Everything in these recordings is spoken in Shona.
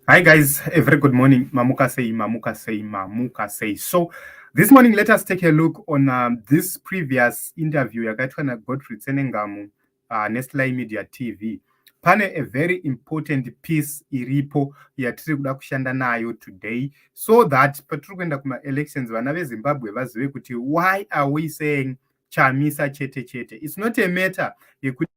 Hi guys, a very good morning. Mamuka say, Mamuka say, Mamuka say. So this morning, let us take a look on uh, this previous interview yakaitwa na Godfrey Tsenengamu uh, Nestlai Media TV. Pane a very important piece iripo yatiri kuda kushanda nayo today so that patiri kuenda kuma elections vana veZimbabwe vazive kuti why are we saying Chamisa chete chete. It's not a matter yekuti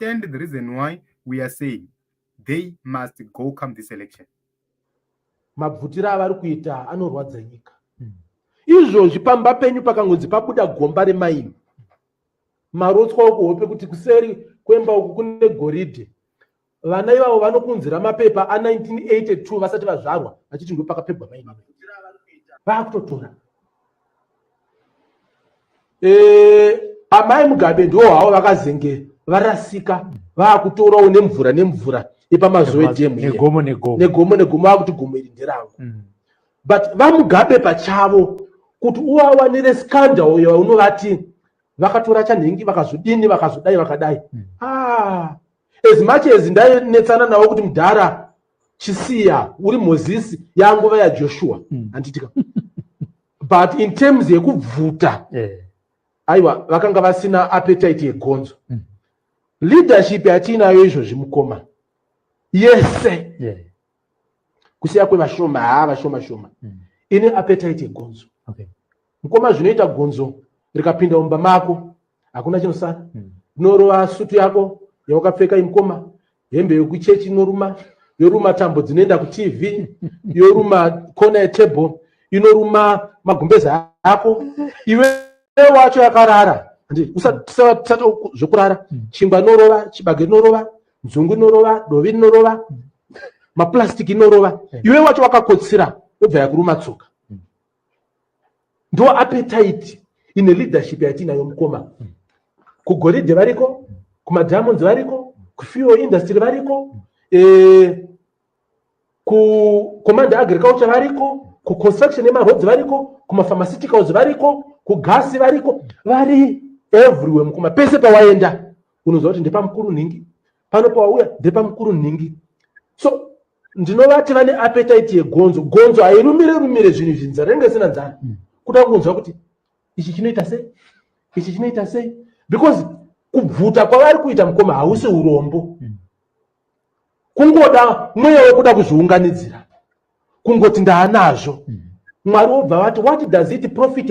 understand the reason why we are saying they must go come this election mabvutira avari kuita anorwadza nyika hmm. izvozvi pamba penyu pakangonzi pabuda gomba remaini marotswa okuhope kuti kuseri kwemba uku kune goridhe vana ivavo vanokunzira mapepa a1982 vasati vazvarwa vachiti ndo pakapegwa maini vakutotora eh, amai mugabe ndiwo havo vakazenge varasika vakutorawo nemvura nemvura yepamazuva edhemu negomo negomo vakuti gomo iri nderangu mm. but vamugabe pachavo kuti uvawanire scandal yaunovati vakatora chanhingi vakazodini vakazodai vakadai mm. ah, as much as ndainetsana navo kuti mudhara chisiya uri mozisi yanguva yajoshua hmm. handitika but in terms yekubvuta eh. aiwa vakanga vasina appetite yegonzo hmm. leadership yatiinayo izvozvi mukoma yese kusiya kwevashoma haa vashoma shoma hmm. ine appetite yegonzo mukoma zvinoita gonzo rikapinda umba mako hakuna chinosara rinorova sutu yako yawakapfeka imukoma hembe yokuchechi inoruma yoruma tambo dzinoenda kutv yoruma kona yetable inoruma magumbeza ako iwe wacho yakarara usatisatisata zvekurara mm. chingwa inorova chibage inorova nzungu inorova dovi inorova mm. maplastic inorova mm. iwe wacho wakakotsira yobva yakuruma tsoka ndo appetite ine leadership yatiinayo mukoma kugoridhe variko kumadiamonds variko kufuel industry variko eh, kucommand agriculture variko kuconstruction yemaroads variko kumapharmaceuticals variko kugasi variko vari everywhere mukoma pese pawaenda unoziva kuti ndepamukuru nhingi pano pawauya ndepamukuru nhingi so ndinovati vane apetaiti yegonzo gonzo hairumire rumire zvinhu izvi nzara inenge isina nzara mm. kuda kunzwa kuti ichi chinoita sei ichi chinoita sei because kubvuta kwavari kuita mukoma hausi urombo mm. kungoda mweya wekuda kuzviunganidzira kungoti ndaanazvo mm. mwari wobva vati what does it profit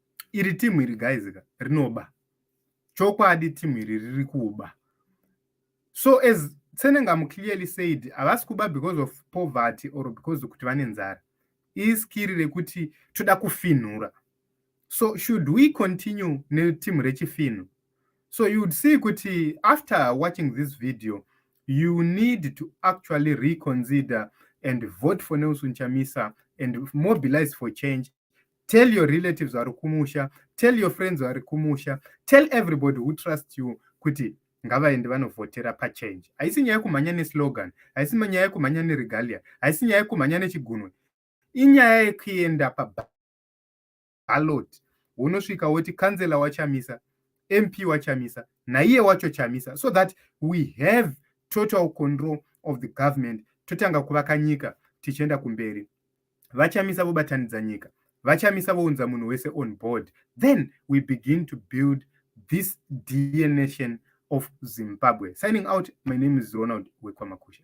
iri team iri guys ka rinoba chokwadi team iri riri kuba so as tsenengamu clearly said havasi kuba because of poverty or because kuti vane nzara iskiri rekuti toda kufinhura so should we continue neteam rechifinhu so you would see kuti after watching this video you need to actually reconsider and vote for nelson chamisa and mobilize for change tell your relatives vari kumusha tell your friends vari kumusha tell everybody who trust you kuti ngavaende vanovhotera pachange haisi nyaya yekumhanya neslogan haisi nyaya yekumhanya neregalia haisi nyaya yekumhanya nechigunwe inyaya yekuenda pabalot wonosvika woti kansela wachamisa mp wachamisa naiye wacho chamisa so that we have total control of the government totanga kuvaka nyika tichienda kumberi vachamisa vobatanidza nyika vachamisa vounza munhu wese on board then we begin to build this dear nation of zimbabwe signing out my name is ronald wekwamakusha